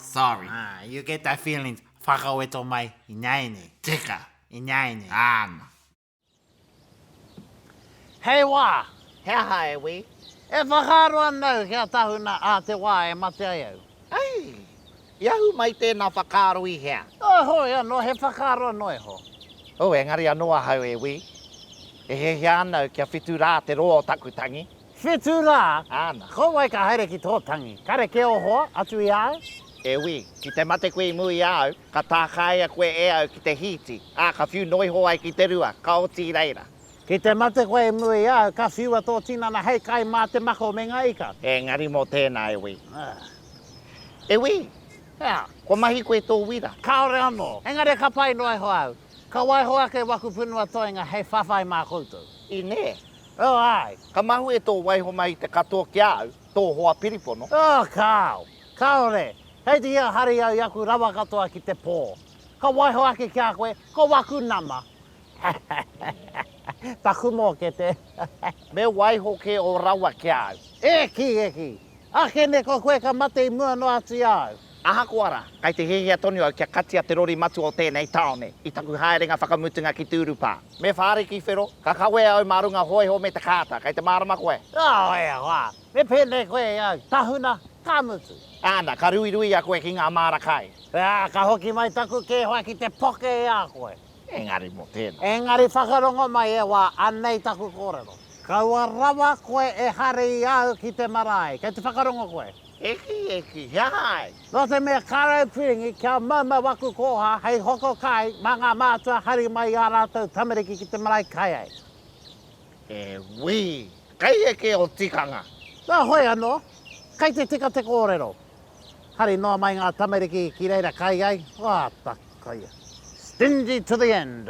Sorry. Ah, you get that feelings. Whakaweto mai, ināianei. Tika, ināianei. Āna. Hei wā, he aha e wī? E whakaaro ana au kia tahuna ā te wā e mate ai au. Ai, i ahu mai tēnā whakaaro i hea? Oh, hoi anō, he whakaaro anō iho. Oh, engari anō ahau e wī. E hiahia ana au kia whitu rā te roa o taku tangi. Whetū rā, āna. Ko wai ka haere ki tō tangi? Kare kē o hoa, atu i a au? E wī, ki te mate koe i mū i a au, ka tākaia koe e au ki te hīti, ā, ka whiu noa iho ai ki te rua, ka oti i reira. Ki te mate koe i mū i a au, ka whiua tō tinana hei kai mā te mako me ngā ika. Engari mō tēnā, e wī. E wī! Hea? Kua mahi koe tō wira? Kāore anō. Engari ka pai noa iho au. Ka waiho ake waku punua toenga hei whawhai mā koutou. Inē! Oh, āe. Ka mahue tō waiho mai i te katoa ki a au, tō hoa piripono. Oh, kāo. Kāore. Kei te hia hari au i aku rawa katoa ki te pō. Ka waiho ake ki a koe, ko waku nama. Taku mōkete. Me waiho kē ō rawa ki a au. Eki, eki. Ake nei ko koe ka mate i mua noa atu i a au. Ahakoa rā, kei te hiahia tonu au kia katia te rori matua o tēnei tāone i taku haerenga whakamutunga ki Tūrupā. Me whāriki whero, ka kawea au mā runga hōiho me te kāta, kei te mārama koe? Kāo, e hoa! Me pēnei koe i au, tahuna, ka mutu! Āna, ka ruirui a koe ki ngā māra kai. Ā, ka hoki mai taku kēwha ki te poke i a koe. Engari mō tēnā. Engari whakarongo mai e hoa, anei taku kōrero. Kaua rawa koe e hari i au ki te marae. Kei te whakarongo koe? Eki, eki, he aha ai? Nō te mea Karau Piringi kia maumau aku kōha hei hoko kai mā ngā mātua hari mai i ā rātou tamariki ki te marae kai ai. He wī, kai eke o tikanga. Nā hoi anō, kai te tika te kōrero. Hari noa mai ngā tamariki ki reira kai ai, wā, ta, koia. Stingy to the end.